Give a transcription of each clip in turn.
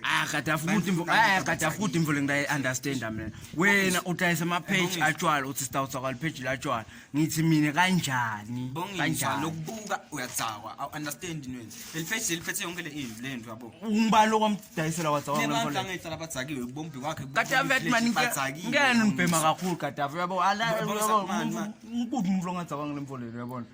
Ah kada futhi mfo ah kada futhi mfo lengidayi understand mina wena udayisa ama page atshwala uthi stawutsa kwal page la tshwala ngithi mina kanjani Bongisa kanjani lokubuka uyadzawa. I understand nini. Lelifeshi leliphethe yonke le into le nto yabo. ungibani lokwamdayisela watsawa mina Abantu mfo angehla labazakiwe ubombi wakhe. Kadafi athi mani ngeke nibhema kakhulu kadafi uyabo ala Baba, baba, uyabo, man, man. ngikuphi umfo longadzawa ngile mfo lelo uyabona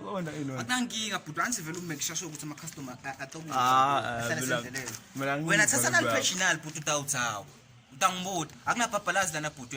Ukhona yini wena? Akunankinga bhuti anzi vele ume kushasha ukuthi ama customer acokuza. Ah, eh, Ahlale mina- sendeleni. mina angibuzi Wena thatha nalo nalibhaka. original bhuti utawuthawa. Utangibuta. Akunabhabhalazi lana bhuti.